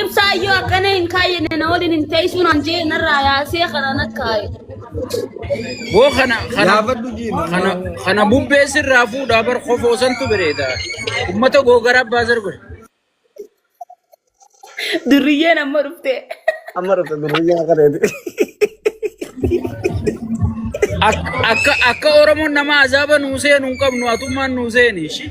Ibsaayyoo akkana hin kaayyine na waliin hin teessuun an jee narraa yaasee kana na kaaye. Boo kana kana Yaafadhu jiima. kana kana bubbee sirraa fuudhaa bar kofoo santu bireeda. Ummata googara abbaa sirbe. Durriyyeen amma dhufte. Amma dhufte durriyyaa kana jedhe. Akka akka akka Oromoon nama azaaba nuu seenu hin qabnu atummaan nuu seeni. ishii.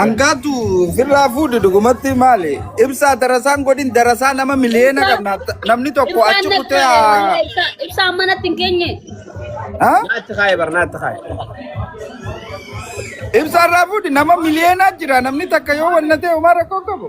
Angaatu firraa fuudhu dhugumatti maali? Ibsaa darasaan godhin darasaa nama miliyoona Ibsaa qabna. Namni tokko ibsaan achi kutee datta'e haa... wallee ibsaa ibsaan manatti hin keenye. Ha? Naatti kaaye bar naatti kaaye. Ibsaa irraa fuudhi nama miliyoonaa jira namni takka yoo wanna ta'e homaa rakkoo qabu.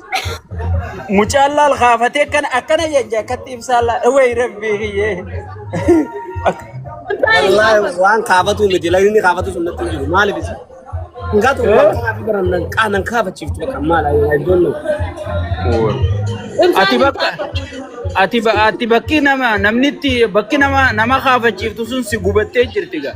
Mucaan laal kaafatee akkana akkana jajja akkatti ibsaa laal. Wayi rabbii kiyyee. Wallaahi waan kaafatu miti lagni kaafatu sun natti hin jiru maaliif isa? Ngaa tokko waan kaafi baran nan qaa nan kaafachiiftu bakka maal ayyuu iddoon nuu. Ati bakka ati ba- ati bakki nama namnitti bakki nama nama kaafachiiftu sun si gubattee jirti gaa.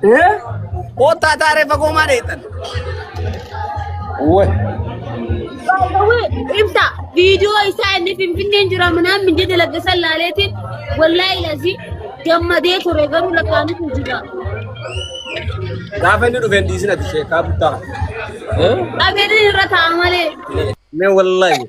Koottaa taaree fagoo maa dheettan? Wai. Ibsa viidiyoo isaa inni finfinneen jira minaan minjii dalagde san laaleetiin wallaahi lazi gammadee ture garuu lakkaa'anii kun jira. Gaafa inni dhufe hin dhiisin ati sheekaa buttaa. Dhabeetiin irra taa'a malee. Mee wallaahi.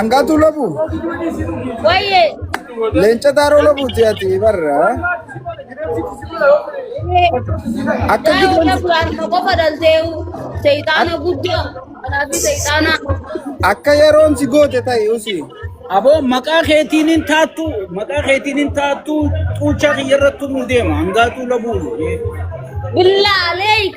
Angaatuu lafuu. Wayyee. Leenca taaroo lafuuti ati barra. Akka Waayoo gidan lafu harma qofa dhalteewu. Seexaana guddaa. Kanaafi seexaana. akka yeroon si goote ta'i usi. Aboo maqaa keetiin hin taattu maqaa keetiin hin taattu xuuchaa kiyya irratti nu deema hangaatuu labuu. Billaa aleeyk.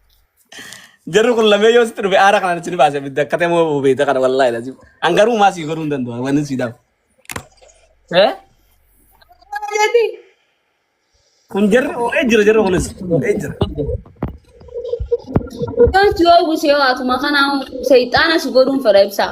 Jarri kun lamee yoo sitti dhufe aara kanaan isin baase bidda akka ta'e moo beekta kana wallaahi lazim. An garuu maa sii godhuu hin danda'u wanni sii dhabu. Eh? Jeeti. Kun jarri oo'ee jira jarri kunis oo'ee jira. Yoo si oowwise yoo atuma kanaa seexaana si godhuun fedha ibsaa.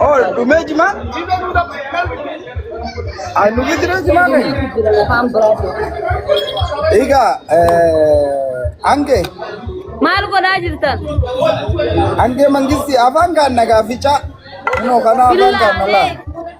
Oh, dhumee jimaa? Ah, nu bidiree jimaa kee? Egaa, hange, Maal godhaa jirtan? hange mangisti afaan kaan nagaa ficaa. Kunoo kana afaan kaan nalaa.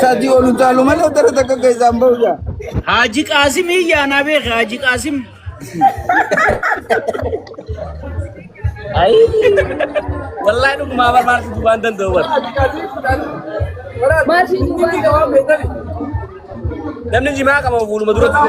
Sadii ol utaalu malee dara takka keessaan bahu jaa. Haaji Qaasim iyyaanaa beeke Haaji Qaasim. Ayi. Wallahi dhugumaa bar maal situ waan danda'u bar. Namni jimaa qaba fuuluma duratti.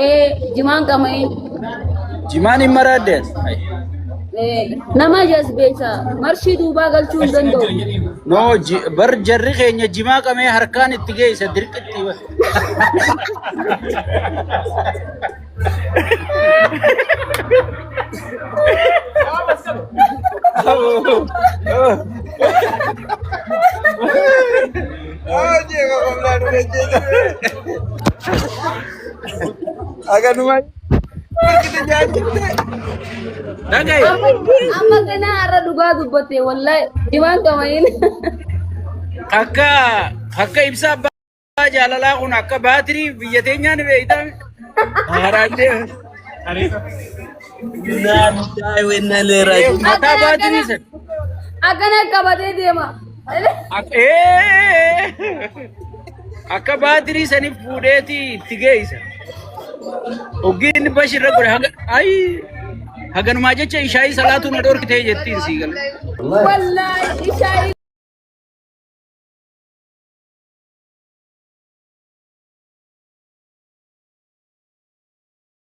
ee jimaan qama'ee Jimaan hin maraadde. ee, nama jazbeessa marshii duubaa galchuu hin danda'u No ji- bar jarri keenya jimaa qamee harkaan itti geessa dirqitti. Akanuma. Dhagaye. Amma kana har'a dhugaa dubbatte wallahi jimaan qamayin. Akka akka ibsaa abbaa jaalalaa kun akka baatirii biyya teenyaan beektan. Haraadee. Innaa lillahi wa innaa ilaihi raaji'uun. Mataa baatirii san. Akkana qabatee deema. Ak- ee! Akka baatirii saniif fuudheeti itti geessa. Oggiin bashirra godhe haga ayi haganumaa jecha ishaayii salaatuu na dhorkitee jettiin sii gala. Wallaahi ishaayii.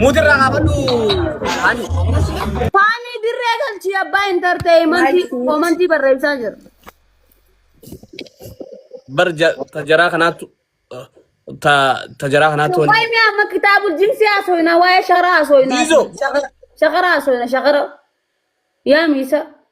Muudirraa kaafadhu ani. Faanii dirree galchii abbaa intarteeyimantii komantii barreessaa jira. Bar ja- ta jaraa kanaattu ta ta jaraa kanaattu wani. Waayee amma kitaabul jinsi haasofna waa'ee sharaa haasofna. Diizoo. Shakara haasofna shakara. Yaa miisa.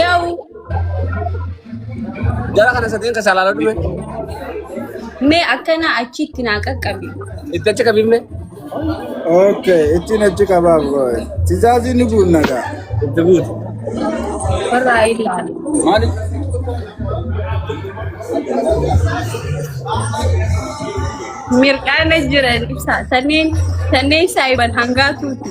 Yaw. Jara kana sadeen keessa alaala dhume. Mee akkana achitti naa qaqqabi. Itti achi qabimne. Okay, ittiin achi qabaaf gooye. Tizaazi ni guunna gaa. Itti guutu. Warraa ilaali. Maali? Mirqaana jiran ibsa. Sanneen sanneen saayiban hangaatuuti.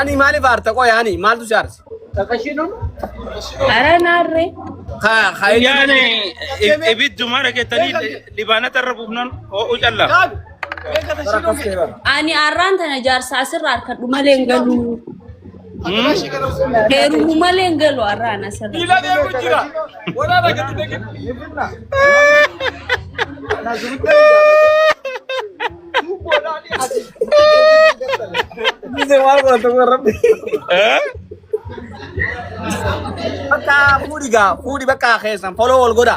Ani maaliif aarta qoy ani maaltu si aarsa? Ara naarree. Yaane ibidduma dhageettanii libaanata irra buufnan ho'u callaa. Ani arraan tana jaarsa asirra harkadhu malee hin galuu. Heerumu malee hin galu har'aa na sana. Miila deemu jira. Waraana gadi dhaqe. Dice mal con tu gorra. Bakka fuudhi gaa fuudhi bakka keessan foloo wal godha.